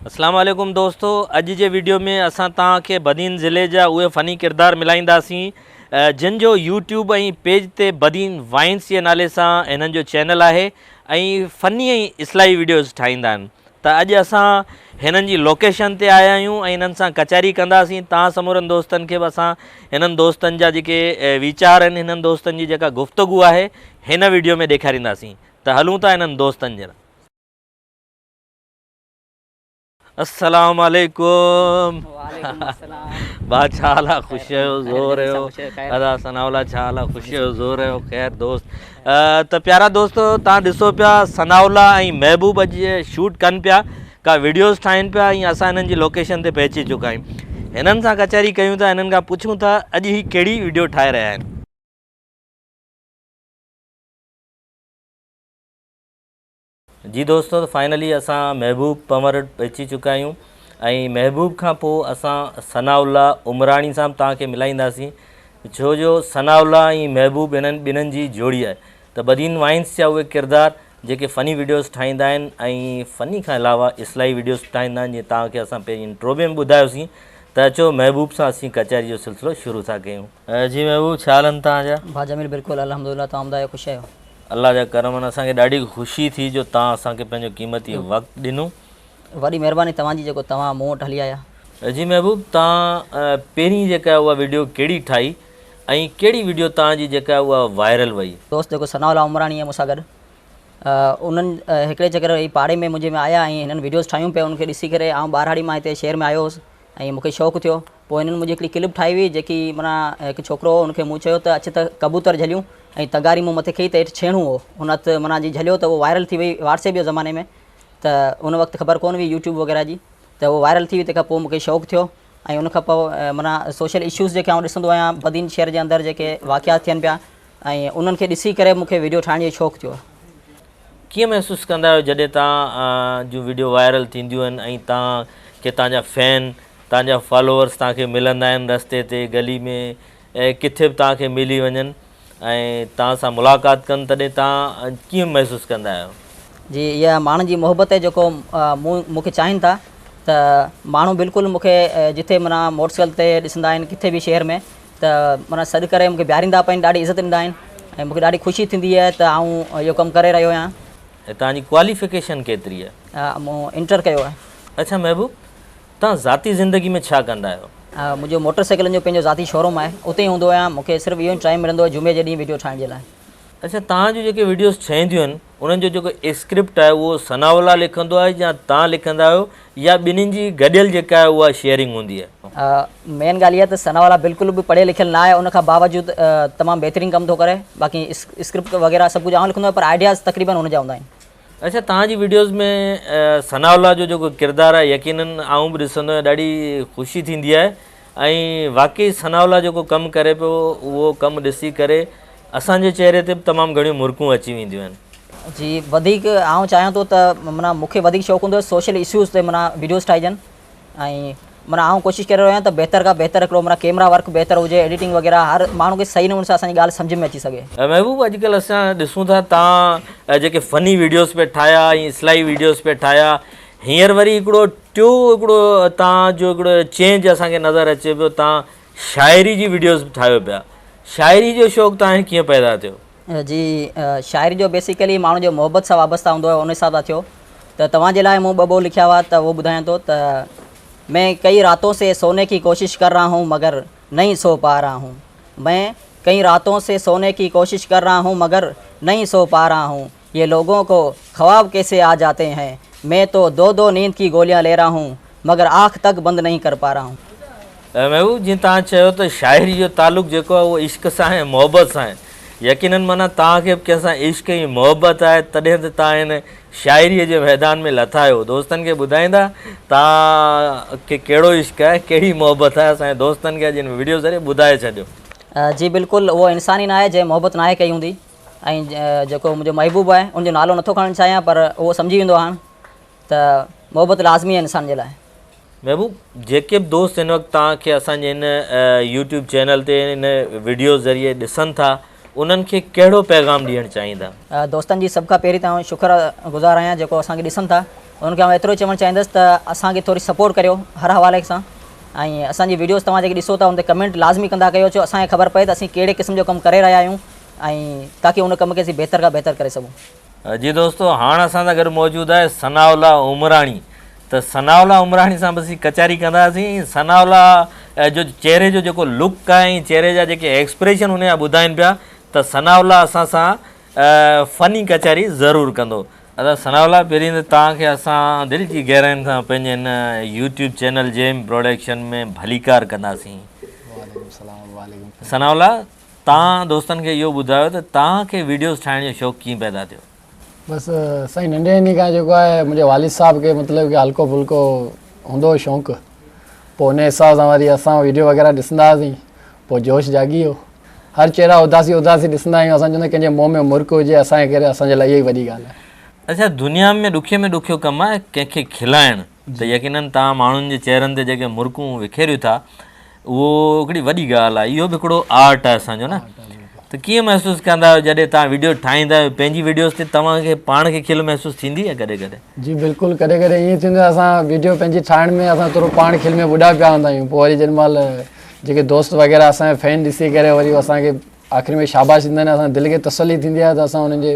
اسلام عليڪم دوستو اڄ جي ويڊيو ۾ اسان توهان کي بدين ضلعي جا اهي فني ڪردار ملائينداسين جن جو يوٽيوب ۽ پيج تي بدين وائنس جي نالي سان هنن جو چينل آهي ۽ فني ۽ اصلاحي ويڊيوز ٺاهيندا آهن ته اڄ اسان هنن جي لوڪيشن تي آيا آهيون ۽ هنن سان ڪچهري ڪنداسين توهان سمورن دوستن کي به اسان هنن دوستن جا جيڪي ويچار آهن هنن دوستن جي جيڪا گفتگو آهي هن ويڊيو ۾ ڏيکارينداسين ته هلون ٿا هنن دوستن جن السلام عليڪم وعليڪم السلام با ڇا حال آ خوش آهيو زور آهيو ادا ثنا الله ڇا حال آ خوش آهيو زور آهيو خير دوست ته پيارا دوست تان ڏسو پيا ثنا الله ۽ محبوب اڄ شوٽ ڪن پيا کا ويڊيوز ٺاهين پيا ۽ اسان هنن جي لوڪيشن تي پهچي چڪا آهيون هنن سان ڪچهري ڪيون ٿا هنن کان پڇون ٿا اڄ هي ڪهڙي ويڊيو ٺاهي رهيا آهن جي دوستو ته فائنلي اسان محبوب پنور وٽ پهچي چڪا آهيون ۽ محبوب کان پوء اسان ثناء الله عمراڻي سان به توهان کي ملائينداسين ڇو جو ثناء الله ۽ محبوب هنن ٻنهن جي جوڙي آهي ته بدين وائنس جا اهي ڪردار جيڪي فني وڊيوز ٺاهيندا آهن ۽ فني کان علاوه اصلاحي وڊيوز به ٺاهيندا آهن جيئن توهان کي اسان پهرين انٽرو ۾ به ٻڌايوسين ته اچو محبوب سان اسين ڪچهري جو سلسلو شروع ٿا ڪيون. جي محبوب ڇا حال آهن توهان جا. ڀاء جميل بلڪل الحمدلله توهان ٻڌايو خوش آهيو. الله جا ڪرم اسان کي ڏاڍي خوشي ٿي جو توهان اسان کي پنهنجو قيمتي وقت ڏنو. وڏي مهرباني توهان جي جيڪو توهان مون وٽ هلي آيا. جي محبوب توهان پهرين جيڪا اها وڊيو ڪهڙي ٺاهي ۽ ڪهڙي وڊيو توهان جي جيڪا اها وائرل وئي. دوست جيڪو ثناء الله عمراڻي ۽ مون سان گڏ انهن هڪڙي چڪر هي پاڙي ۾ منهنجي ۾ آيا ۽ هنن وڊيوز ٺاهيون پيا ان کي ڏسي ڪري آئون ٻاراڙي مان هتي شهر ۾ آيو هوس ۽ مون کي شوق ٿيو پوء هنن منهنجي هڪڙي ڪلپ ٺاهي هئي، جيڪي معنيٰ هڪ ڇوڪرو هو، هن کي مون چيو ته اچ ته ڪبوتر جهليون ۽ تغاري مون مٿي ڪئي ته هيٺ ڇيڻو هو، هن ات معنيٰ جي جهليو ته اهو وائرل ٿي وئي واٽس ايپ جي زماني ۾ ته ان وقت خبر ڪونه هئي يوٽيوب وغيره جي ته اهو وائرل ٿي وئي تنهن کان پوء مون کي شوق ٿيو ۽ ان کان پوء معنيٰ سوشل اشوز جيڪي آئون ڏسندو آهيان بدين شهر جي اندر جيڪي واقعات ٿين پيا ۽ انهن کي ڏسي ڪري مون کي ويڊيو ٺاهڻ جو شوق ٿيو. ڪيئن محسوس ڪندا آهيو جڏهن توهان جون وڊيو وائرل ٿينديون آهن ۽ توهان کي توهان جا فين توهان جا فالوورس توهان کي ملندا آهن رستي تي گلي ۾ ڪٿي به توهان کي ملي وڃن ۽ توهان سان ملاقات ڪن تڏهن توهان ڪيئن محسوس ڪندا آهيو. جي اها ماڻهن جي محبت آهي جيڪو مون مون کي چاهين ٿا ته ماڻهو بلڪل مون کي جتي منا موٽرسائيڪل تي ڏسندا آهن ڪٿي به شهر ۾ ته منا سڏ ڪري مونکي بيھاريندا پئين ڏاڍي عزت ڏيندا آھن ۽ مونکي ڏاڍي خوشي ٿيندي آھي ته آئون اھو ڪم ڪري رھيو آھيان. توھان جي ڪواليفڪيشن ڪيتري آھي؟ مون انٽر ڪيو آھي. اڇا محبوب توھان ذاتي زندگي ۾ ڇا ڪندا آھيو؟ منھنجو موٽر سائيڪلن جو پنھنجو ذاتي شوروم آھي اتي ھوندو آھيان مونکي صرف اھو ئي ٽائيم ملندو آھي جمعي جي ڏينھن وڊيو ٺاھڻ جي لاء. اڇا توھان جون جيڪي وڊيوز ٺھينديون آھن انهن جو جيڪو اسڪرپٽ آهي اهو ثناء الله لکندو آهي يا توهان لکندا آهيو يا ٻنهين جي گڏيل جيڪا آهي اها شيئرنگ هوندي آهي. مين ڳالهه اها ته ثناء الله بلڪل به پڙهيل لکيل نه آهي ان کان باوجود تمام بهترين ڪم ٿو ڪري باقي اسڪرپٽ وغيره سڀ ڪجهه آئون لکندو آهيان پر آئيڊياز تقريبن ان جا هوندا آهن. اچا توهان جي ويڊيوز ۾ ثناء الله جو جيڪو ڪردار آهي يقينن آئون به ڏسندو آهيان ڏاڍي خوشي ٿيندي آهي ۽ واقعي ثناء الله جيڪو ڪم ڪري پيو اهو ڪم ڏسي ڪري اسان جي چهري تي به تمام گهڻيون مرڪون اچي وينديون آهن. جي وڌيڪ آئون چاهيان ٿو ته معنيٰ مون کي وڌيڪ شوق هوندو آهي سوشل اسيوز تي معنيٰ ويڊيوز ٺاهجن ۽ معنيٰ آئون ڪوشش ڪري رهيو آهيان ته بهتر کان بهتر هڪڙو معنيٰ ڪيمرا ورڪ بهتر هجي ايڊيٽنگ وغيره هر ماڻهو کي صحيح نموني سان اسان جي ڳالهه سمجهه ۾ اچي سگهي. محبوب اڄ ڪلهه اسان ڏسون ٿا تان جيڪي فني ويڊيوز پيا ٺاهيا ۽ اصلاحي ويڊيوز پيا ٺاهيا هينئر وري هڪڙو ٽيو هڪڙو تان جو هڪڙو چينج اسان کي نظر اچي پيو تان شاعري جي وڊيوز به ٺاهيو پيا شاعري جو شوق تان کي ڪيئن پيدا ٿيو؟ جي شاعري جو بيسيڪلي ماڻهو جو محبت سان وابسته هوندو آهي ان حساب سان ٿيو ته توهان جي لاء مون ٻه ٻول لکيا هئا ته اهو ٻڌايان ٿو ته مين ڪئي راتون سي سوني ڪي ڪوشش ڪر رها هون مگر نهين سو پا رها هون مين ڪئي راتون سي سوني ڪي ڪوشش ڪر رها هون مگر نهين سو پا رها هون يي لوگون ڪو خواب ڪيسي آ جاتي هين مين تو دو دو نيند ڪي گوليان لي رها هون مگر آنک تڪ بند نهين ڪر پا رها هون. محبوب جيئن توهان چيو ته شاعري جو تعلق جيڪو آهي اهو عشق سان ۽ محبت سان آهي يقينن معنيٰ توهان کي به ڪنهن سان عشق ۽ محبت آهي تڏهن ته توهان هن شاعري جي ميدان ۾ لٿا آهيو دوستن کي ٻڌائيندا توهان کي ڪهڙو عشق آهي ڪهڙي محبت آهي اسان جي دوستن کي اڄ هن وڊيو ذريعي ٻڌائي ڇڏيو. جي بلڪل اهو انسان ئي ناهي جنهن محبت ناهي ڪئي هوندي. ۽ جيڪو منهنجو محبوب آهي ان جو نالو نٿو کڻڻ چاهيان پر اهو سمجهي ويندو هاڻ ته محبت لازمي آهي انسان جي لاء. محبوب جيڪي به دوست هن وقت توهان کي اسان جي هن يوٽيوب چينل تي هن وڊيو ذريعي ڏسن ٿا انهن کي ڪهڙو پيغام ڏيڻ چاهيندا؟ دوستن جي سڀ کان پهرين ته آئون شڪر گذار آهيان جيڪو اسان کي ڏسن ٿا انهن کي آئون ايترو ئي چوڻ چاهيندس ته اسان کي ٿوري سپورٽ ڪريو هر حوالي سان ۽ اسان جي وڊيوز توهان جيڪي ڏسو ٿا ان تي ڪمينٽ لازمي ڪندا ڪيو جو اسان کي خبر پئي ته اسين ڪهڙي قسم جو ڪم ڪري رهيا آهيون ۽ تاڪي ان ڪم کي اسين بهتر کان بهتر ڪري سگهون. جي دوستو هاڻ اسان سان گڏ موجود آهي ثناء الله عمراڻي ته ثناء الله عمراڻي سان به اسين ڪچهري ڪنداسين ۽ ثناء الله جو چهري جو جيڪو لڪ آهي ۽ چهري جا جيڪي ايڪسپريشن هن جا ٻڌائين پيا ته ثناء الله اسان سان فني ڪچهري ضرور ڪندو. ادا ثناء الله پهرين ته توهان کي اسان دل جي گهراين سان پنهنجي هن يوٽيوب چينل جيم پروڊڪشن ۾ ڀليڪار ڪنداسين. وعليڪم السلام وعليڪم السلام ثناء الله تان دوستن کي اهو ٻڌايو ته تان کي ويڊيوز ٺاهڻ جو شوق ڪيئن پيدا ٿيو؟ بس سائين ننڍي هوندي کان جيڪو آهي منهنجي والد صاحب کي مطلب ڪي هلڪو ڦلڪو هوندو هو شونق پوء انهي حساب سان وري اسان ويڊيو وغيره ڏسندا هئاسين پوء جوش جاڳي ويو هر چهرا اداسي اداسي ڏسندا آهيون اسان چوندا ڪنهن جي منهن ۾ مرڪ هجي اسان کي ڪري اسان جي لاء اهو ئي وڏي ڳالهه آهي. اچا دنيا ۾ ڏکي ۾ ڏکيو ڪم آهي ڪنهن کي کلائڻ. ته يقينن توهان ماڻهن جي چهرن تي جيڪي مرڪون وکيريو ٿا اهو هڪڙي وڏي ڳالهه آهي اهو به هڪڙو آرٽ آهي اسان جو نه ته ڪيئن محسوس ڪندا آهيو جڏهن توهان ويڊيو ٺاهيندا آهيو پنهنجي ويڊيوز تي توهان کي پاڻ کي کل محسوس ٿيندي آهي ڪڏهن ڪڏهن جي بلڪل ڪڏهن ڪڏهن ائين ٿيندو آهي اسان ويڊيو پنهنجي ٺاهڻ ۾ اسان ٿورو پاڻ کل ۾ ٻڏا پيا هوندا آهيون پوء وري جن مال جيڪي دوست وغيره اسان جا فين ڏسي ڪري وري هو اسان کي آخر ۾ شاباش ڏيندا آهن اسان دل کي تسلي ٿيندي آهي ته اسان انهن جي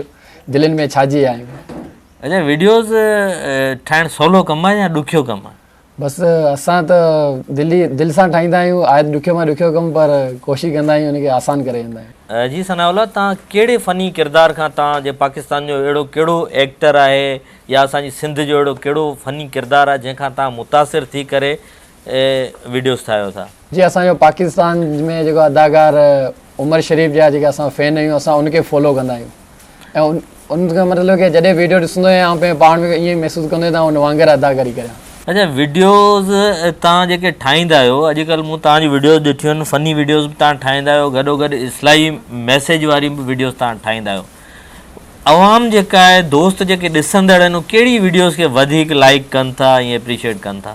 دلين ۾ ڇا جي آهيون اچا ويڊيوز ٺاهڻ سولو ڪم آهي يا ڏکيو ڪم آهي؟ بس اسان ته دل ئي دل سان ٺاهيندا آهيون آهي ته ڏکيو مان ڏکيو ڪم پر ڪوشش ڪندا آهيون ان کي آسان ڪري ويندا آهيون. جي ثناء الله تان ڪهڙي فني ڪردار کان تان جي پاڪستان جو اهڙو ڪهڙو ايڪٽر آهي يا اسان جي سنڌ جو اهڙو ڪهڙو فني ڪردار آهي جنهن کان تان متاثر ٿي ڪري ويڊيوز ٺاهيو ٿا. جي اسان جو پاڪستان ۾ جيڪو اداڪار عمر شريف جا جيڪي اسان فين آهيون اسان ان کي فالو ڪندا آهيون ۽ ان کان مطلب ڪي جڏهن ويڊيو ڏسندو آهيان آئون پنهنجي پاڻ ۾ ائين محسوس ڪندو آهيان ته آئون ان وانگر اداڪاري ڪريان. اچا ويڊيوز تان جيڪي ٺاهيندا آهيو اڄ ڪلهه مون تان جون ويڊيوز ڏٺيون آهن فني ويڊيوز به تان ٺاهيندا آهيو گڏو گڏ اصلاحي ميسيج واريون به ويڊيوز تان ٺاهيندا آهيو عوام جيڪا آهي دوست جيڪي ڏسندڙ آهن اهي ڪهڙي ويڊيوز کي وڌيڪ لائيڪ ڪن ٿا ۽ اپريشيئيٽ ڪن ٿا.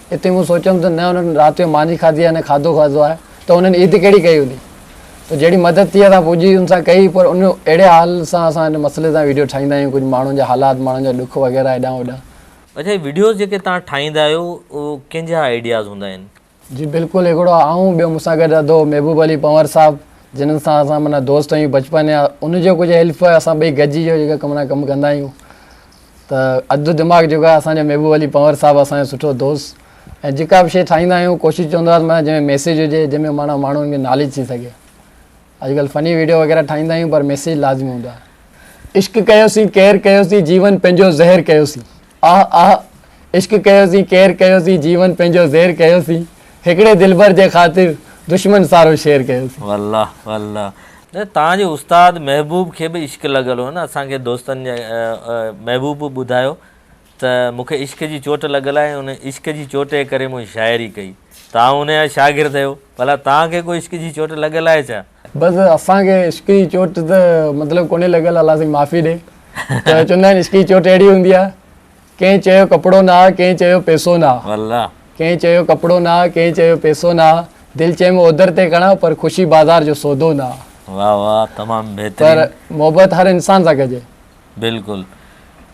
اتي مون سوچيم ته نه انهن رات جو ماني کاڌي آهي نه کاڌو کاڌو آهي ته انهن عيد ڪهڙي ڪئي هوندي ته جهڙي مدد ٿي اسان پوڄي ان سان ڪئي پر ان اهڙي حال سان اسان ان مسئلي تان ويڊيو ٺاهيندا آهيون ڪجهه ماڻهن جا حالات ماڻهن جا ڏک وغيره هيڏانهن هوڏانهن. اچھا هي وڊيوز جيڪي توهان ٺاهيندا آهيو اهو ڪنهن جا آئيڊياز هوندا آهن؟ جي بلڪل هڪڙو آئون ٻيو مون سان گڏ اڌو محبوب علي پنور صاحب جنھن سان اسان معنيٰ دوست آهيون بچپن يا ان جو ڪجهه حلف اسان ٻئي گڏجي جو جيڪا ڪم نا ڪم ڪندا آهيون ته اڌ دماغ جيڪو آهي اسان جو محبوب علي پنور صاحب اسان جو سٺو دوست ۽ جيڪا به شيء ٺاهيندا آهيون ڪوشش چوندو آهيان معنيٰ جنهن ۾ ميسيج هجي جنهن ۾ معنيٰ ماڻهن کي ناليج ٿي سگهي اڄڪلهه فني ويڊيو وغيره ٺاهيندا آهيون پر ميسيج لازمي هوندو آهي عشق ڪيوسين ڪير ڪيوسين جيون پنهنجو زهر ڪيوسين آه آه عشق ڪيوسين ڪير ڪيوسين جيون پنهنجو زهر ڪيوسين هڪڙي دلبر جي خاطر دشمن سارو شير ڪيوسين. والله والله نه توهان جي استاد محبوب کي به عشق لڳل هو نه اسان کي دوستن جي محبوب به ٻڌايو ته مون کي عشق جي چوٽ لڳل آهي ان عشق جي چوٽ جي ڪري مون شاعري ڪئي توهان ان جا شاگرد آهيو ڀلا توهان کي ڪو عشق جي چوٽ لڳل آهي ڇا؟ بس اسان کي عشق جي چوٽ ته مطلب ڪونهي لڳل الله سائين معافي ڏي ته چوندا آهن عشق جي چوٽ اهڙي هوندي آهي ڪنهن چيو ڪپڙو نه آهي ڪنهن چيو پيسو نه آهي ڪنهن چيو ڪپڙو نه آهي ڪنهن چيو پيسو نه آهي دل چيم اوڌر تي کڻان پر خوشي بازار جو سودو نه آهي پر محبت هر انسان سان ڪجي. بلڪل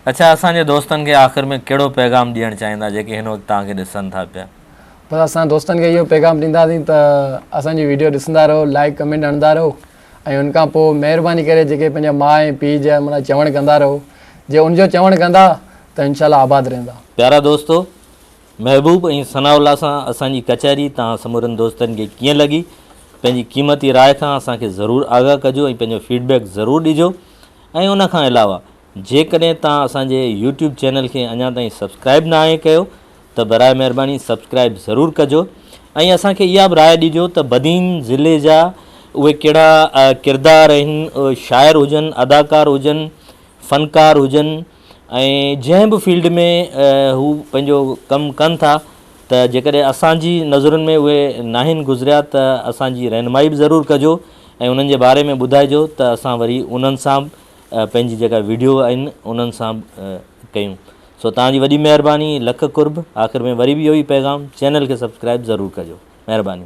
اڇا اسان جي دوستن کي آخر ۾ ڪهڙو پيغام ڏيڻ چاهيندا جيڪي هن وقت توهان کي ڏسن ٿا پيا. بس اسان دوستن کي اهو پيغام ڏينداسين ته اسان جي ويڊيو ڏسندا رهو لائيڪ ڪمينٽ هڻندا رهو ۽ ان کان پوء مهرباني ڪري جيڪي پنهنجا ماء ۽ پيء جا مڙا چوڻ ڪندا رهو جي ان جو چوڻ ڪندا ته انشاء الله آباد رهندا. پيارا دوستو محبوب ۽ ثناء الله سان اسان جي ڪچهري توهان سمورن دوستن کي ڪيئن لڳي پنهنجي قيمتي راء کان اسان کي ضرور آگاهه ڪجو ۽ پنهنجو فيڊ بيڪ ضرور ڏجو ۽ ان کان علاوه جيڪڏهن توهان اسان جي يوٽيوب چينل کي اڃا تائين سبسڪرائب ناهي ڪيو ته براء مهرباني سبسڪرائب ضرور ڪجو ۽ اسان کي اها به راء ڏجو ته بدين ضلعي جا اهي ڪهڙا ڪردار آهن شاعر هجن اداڪار هجن فنڪار هجن ۽ جنهن به فيلڊ ۾ هو پنهنجو ڪم ڪن ٿا ته جيڪڏهن اسان جي نظرن ۾ اهي ناهن گذريا ته اسان جي رهنمائي به ضرور ڪجو ۽ انهن جي باري ۾ ٻڌائجو ته اسان وري انهن سان پنهنجي جيڪا ويڊيو آهن انهن سان به ڪيون سو توهان جي وڏي مهرباني لک قرب آخر ۾ وري به اهو ئي پيغام چينل کي سبسڪرائب ضرور ڪجو مهرباني.